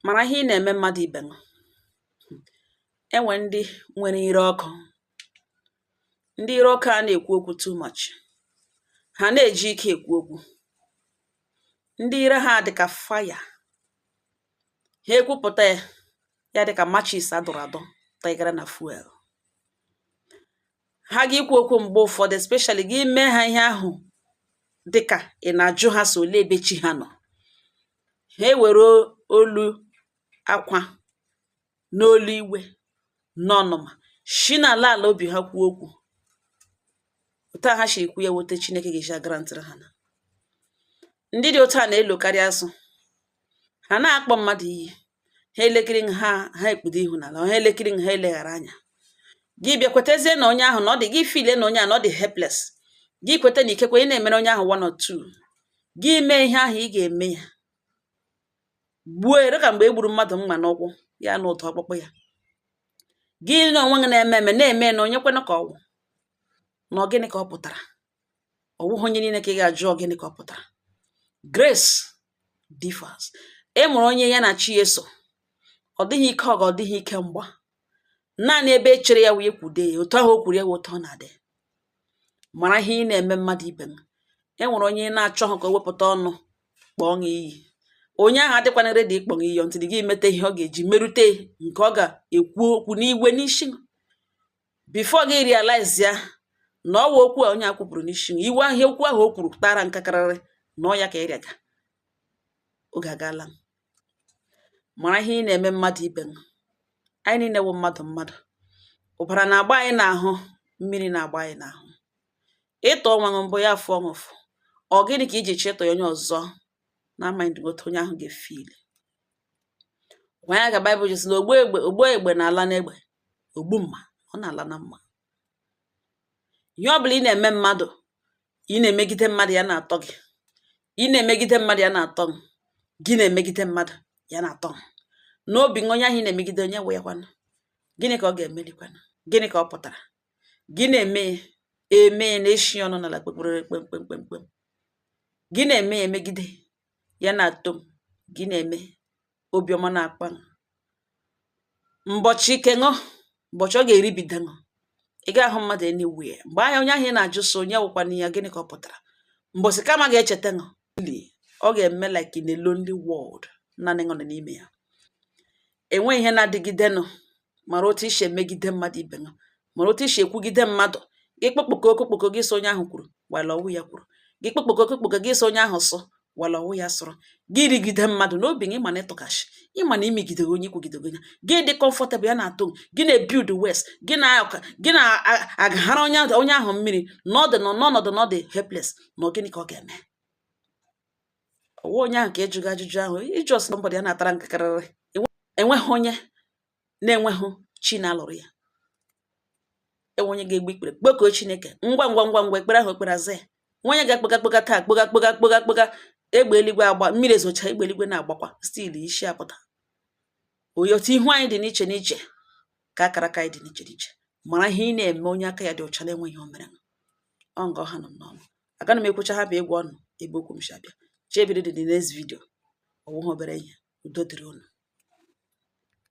mara ihe ị na-eme mmadụ ibe ṅụ. E nwere ndị nwere ire ọkụ, ndị ire ọkụ a na-ekwu okwu too much, ha na-eji ike ekwu okwu, ndị ire ha dị ka fire, ha ekwupụta ya, ya dị ka matches a dọrọ adọ tịgara na fuel. Ha ga-ekwu okwu mgbe ụfọdụ especially gị mee ha ihe ahụ dị ka ị na-ajụ ha sị olee ebe chi ha nọ. ha ewere olu akwa n'olu iwe n'ọnụma shi n'ala ala obi ha kwuo okwu otu a ha shi ekwu ya wụ otu chineke ga-eji agrantịrị ha na ndị dị otu a na-elokarị asụ ha na-akpọ mmadụ iyi ha elekiri ṅụ ha ha ekpudo ihu n'ala ha elekiri ṅụ ha eleghara anya gị bịa kwetezie na onye ahụ na ọ dị gị feel na onye ahụ na ọ dị helpless gị kweta na ikekwe ị na-emere onye ahụ one or two gị mee ihe ahụ ị ga-eme ya gbuo ere ka mgbe e gburu mmadụ mma n'ụkwụ ya na ụtọ ọkpụkpụ ya gị na onwe gị na-eme eme na-eme na onye kwenụ ka ọ wụ na gịnị ka ọ pụtara ọ bụghị onye niile ka ị ga-ajụ gịnị ka ọ pụtara grace differs e nwere onye ya na chi ya so ọ dịghị ike ọgụ ọ dịghị ike mgba naanị ebe e chere ya wee kwude ya otu ahụ o kwuru ya wụ otu ọ na-adị mara ihe ị na-eme mmadụ ibe ṅụ e nwere onye na-achọghị ka o wepụta ọnụ kpọọ ṅụ iyi onye ahụ adịkwana ready ịkpọ ṅụ iyi until gị meta ihe ọ ga-eji merute nke ọ ga-ekwu okwu n'iwe n'isi before gị realize ya na ọ wụ okwu a onye a kwupụrụ n'isi na iwe ahụ okwu ahụ o kwuru tara nkakarịrị na ọ ya ka ị rịaga oge agaala mara ihe ị na-eme mmadụ ibe ṅụ anyị niile wụ mmadụ mmadụ ụbara na-agba anyị n'ahụ mmiri na-agba anyị n'ahụ ị tụọ onwe ṅụ mbọ ya afụọ ṅụ ụfụ ọ gịnị ka i ji chọọ ịtụ ya onye ọzọ na mind otu onye ahụ ga-efeel ọ wụ ya ka baịbụl ji sị na ogbu egbe na-ala n'egbe ogbu mma ọ na-ala na mma ihe ọ bụla ị na-eme mmadụ ị na-emegide mmadụ ya na-atọ gị ị na-emegide mmadụ ya na-atọ ṅụ gị na-emegide mmadụ ya na-atọ ṅụ n'obi ṅụ onye ahụ ị na-emegide onye wụkwanụ gịnị ka ọ ga-emerikwanụ gịnị ka ọ pụtara gị na-eme ya eme ya na-eshi ọnụ n'ala kpekpere kpemkpemkpemkpem gị na-eme ya emegide ya na-atọ ṅụ gị na-eme obiọma na-akpa ṅụ mbọchị nke ṅụ mbọchị ọ ga-eribido ṅụ ị ga-ahụ mmadụ anywhere mgbe ahụ onye ahụ ị na-ajụ sị onye wụkwana ya gịnị ka ọ pụtara mbọchị karma ga-echeta ṅụ ọ ga-eme like in a lonely world naanị ṅụ nọ n'ime ya E nweghị ihe na-adịgidenụ, mara otu i si emegide mmadụ ibe gị, mara otu i si ekwugide mmadụ, gị kpokpoko okokpoko gị sị onye ahụ kwuru, gwala ọ wụ ya kwuru, gị kpokpoko okokpoko gị sị onye ahụ sụ, gwala ọ wụ ya sụrụ, gị rigide mmadụ n'obi gị, ị ma na ị tụga ashị, ị ma na i megidere onye i kwugidere onye, gị dị comfortable ya na-atọ gị, gị na-ebild wes, gị na-aka gị na-agahara onye ahụ onye ahụ mmiri n'ọdụ n'ọnọdụ na ọ dị helpless, na gịnị ka ọ ga-eme? ọ wụ onye ahụ ka ị jụga ajụjụ ahụ ị jụọ somebody ya na-atara nkakarịrị enweghị onye na-enweghị chi na-alụrụ ya e nwe onye ga-egbu ikpere kpọkuo Chineke ngwa ngwa ngwa ngwa ekpere ahụ e kpere aza ya e nwe onye ga-akpọga kpọga taa kpọga kpọga kpọga kpọga egbe eluigwe agba mmiri ezocha egbe eluigwe na-agbakwa still isi apụta oyi otu ihu anyị dị n'iche n'iche ka akara aka anyị dị n'iche n'iche mara ihe ị na-eme onye aka ya dị ọcha na-enweghị o mere ọ nga ọha nọ n'ọnụ agaghị m ekwucha ha bụ ịgwa unu ebe okwu m shi abịa chebiri dị the next video ọ wụghị obere ihe udo dịrị unu